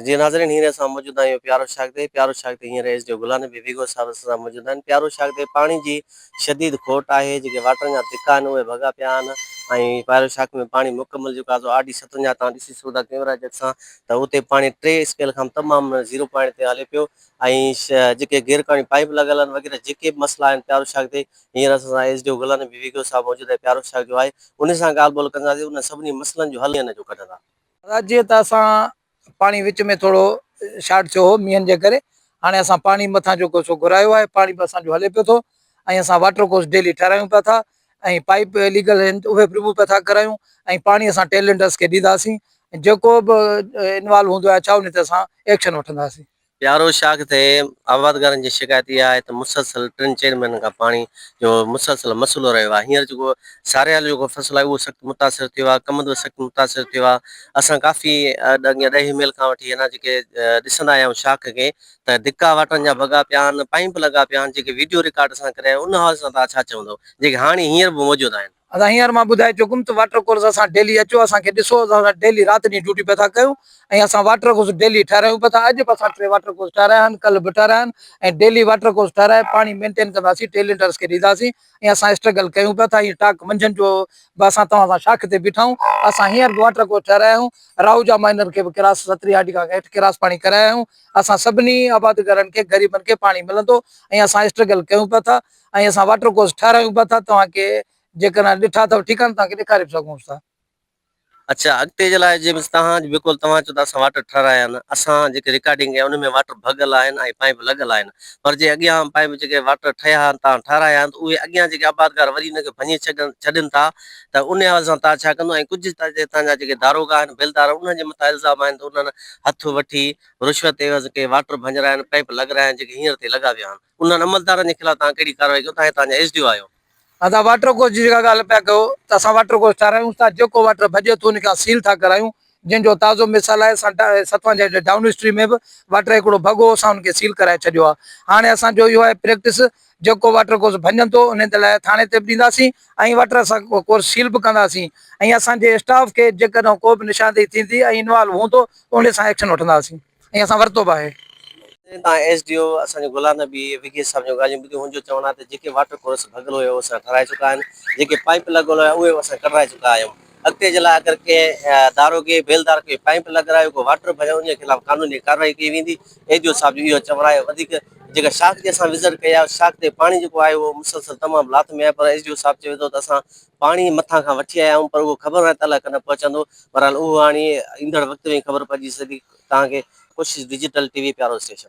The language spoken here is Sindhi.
جي ناظرين هينئر اسان موجود آهيون پيارو شاگردي پيارو شاگردي هينئر ايس ڊي او گلان بي بي گو صاحب اسان سان موجود آهن پيارو شاگردي پاڻي جي شديد کوٽ آهي جيڪي واٽرن جا دڪا آهن اهي ڀڳا پيا آهن ۽ پيارو شاگردي ۾ پاڻي مڪمل جيڪو آزو آر ڊي ستونجا تان ڏسي سگهو ٿا ڪيمرا جت سان ته اتي پاڻي ٽي اسپيل کان تمام زيرو پوائنٽ تي هلي پيو ۽ جيڪي غير قانوني پائپ لڳل آهن وغيره جيڪي به مسئلا آهن پيارو شاگردي هينئر اسان سان ايس ڊي او گلان بي بي گو صاحب موجود آهي پيارو شاگردي جو آهي ان سان ڳالهه ٻولهه ڪنداسين ان سڀني مسئلن جو حل هن جو ڪڍندا رات جيئن ته اسان پاڻي وچ ۾ ٿورو شارٽ ٿيو هو مينهن جي ڪري هاڻي اسان پاڻي مٿان جيڪو سو گهرايو آهي پاڻي به اسان جو هلي پيو ٿو ۽ اسان واٽر ڪورس ڊيلي ٺهرايون پيا ٿا ۽ پائيپ اليگل آهن اهي به رموو پيا ٿا ڪرايون ۽ پاڻي اسان ٽيلنڊرس کي ڏينداسين جيڪو به انوالو هوندو آهي ڇا ان تي اسان ايڪشن وٺنداسين پيارو شاخ تي آبادگارن جي شڪايت اها آهي ته مسلسل ٽن چئن مهينن کان پاڻي جو مسلسل مسئلو رهيو آهي هينئر جيڪو ساريال جيڪو فصل آهي اهو سخت متاثر ٿيو آهي ڪمند به سخت متاثر ٿيو آهي اسان ڪافي اڳيان ڏهي ميل کان وٺي هينا جيڪي ڏسندا آيا آهيون شاخ کي ته ڌڪا واٽن جا ڀڳا پيا آهن پائيپ لڳا پيا آهن جيڪي ويڊيو رڪارڊ اسان ڪري آهي ان حوالي سان توهان ڇا چوندو جيڪي هاڻي هينئر به موجود آهن. اسان هينئر مان ٻڌائي چڪم ته واٽر ڪورس اسان ڊيلي اچو اسان کي ڏسو اسان ڊيلي رات ڏينهن ڊيوٽي پيا ٿا ڪيون ۽ اسان واٽر ڪورس ڊيلي ٺهرايون پيا ٿا اڄ به اسان ٽي واٽر ڪورس ٺهرايا آهن ڪل به ٺهرايا آهن ۽ ڊيلي واٽر ڪورس ٺهرائي پاڻي مينٽين ڪنداسين ٽي ليٽرس کي ڏينداسين ۽ اسان اسٽرگل ڪيون پيا ٿا هينئر ٽاڪ منجهند جو به اسان توهان سان شاخ تي بيٺا آهيون اسان هينئر به واٽر ڪورس ٺهرايا آهيون راهوجا مائنر کي به ڪراس ستري هاڊي کان هيٺ ڪراس پاڻي ڪرايا آهيون اسان سڀني آبادگارن کي غريبن کي پاڻي ملندو ۽ اسان اسٽرگل ڪيون پيا ٿا ۽ اسان واٽر ڪورس ٺهرايون به ٿا توهان کي جيڪڏهن ڏٺا اٿو ٺيڪ آهن توهان کي ڏيکاري به سگهونس ٿا. اڇا اڳتي جي لاء جي توهان جي بقول توهان چئو ته اسان واٽر ٺهرايا آهن اسان جيڪي رڪارڊنگ ڪئي آهي ان ۾ واٽر ڀڳل آهن ۽ پائيپ لڳل آهن پر جي اڳيان پائيپ جيڪي واٽر ٺهيا آهن توهان ٺهرايا آهن ته اهي اڳيان جيڪي آبادگار وري ان کي ڀڃي ڇڏين ٿا ته ان حوالي سان توهان ڇا ڪندو ۽ ڪجهه ته هتان جا جيڪي داروغا آهن بيلدار آهن انهن جي مٿان الزام آهن ته انهن هٿ وٺي رشوت عيوض ڪي واٽر ڀڃرايا آهن پائيپ لڳرايا آهن جيڪي هينئر تائين لڳا ويا آهن. انهن عملدارن جي خلاف توهان ڪهڙي ڪارروائي ڪيو توهان توهان جا ايس ڊي او آهيو. اسان واٽر ڪورس جي جيڪا ڳالهه پيا ڪيو ته اسان واٽر ڪورس ٺاهرايون ٿا جيڪو واٽر ڀڄي ٿو ان کي اسان سيل ٿا ڪرايون جنهن جو تازو مثال آهي اسان ستوان جي هيٺ ڊائون اسٽريم ۾ به واٽر هڪڙو ڀڳ هو اسان ان کي سيل ڪرائي ڇڏيو آهي هاڻي اسان جو اهو آهي پريڪٽس جيڪو واٽر ڪورس ڀڃن ٿو انهن تي لاء ٿاڻي تي به ڏينداسين ۽ واٽر اسان ڪورس سيل به ڪنداسين ۽ اسان جي اسٽاف کي جيڪڏهن ڪو به نشاندهي ٿيندي ۽ انوالو هوندو ته انهي سان ايڪشن وٺنداسين. ۽ اسان ورتو به آهي. جڏهن تان ايس ڊي او اسان جو غلام نبي وگيس صاحب جون ڳالهيون ٻڌيون هن جو چوڻ آهي ته جيڪي واٽر ڪورس ڀڳل هيا اهي اسان ٺهرائي چڪا آهن جيڪي پائيپ لڳل هيا اهي به اسان ڪڍرائي چڪا آهيون اڳتي جي لاء اگر ڪنهن داروغي بيلدار ڪوئي پائيپ لڳرايو ڪو واٽر ڀريو انهي خلاف قانوني ڪارروائي ڪئي ويندي ايس ڊي او صاحب جو اهو چوڻ آهي وڌيڪ جيڪا شاخ تي اسان وزٽ ڪئي آهي شاخ تي پاڻي جيڪو آهي اهو مسلسل تمام لات ۾ آهي پر ايس ڊي او صاحب چوي ٿو ته اسان پاڻي مٿان کان وٺي آيا آهيون پر اهو خبر ناهي ته الله ڪڏهن پهچندو بهرحال اهو هاڻي ايندڙ وقت ۾ ئي خبر پئجي سگهندي توهان کي ڪوشش ڊجيٽل ٽي وي پيارو اسٽيشن.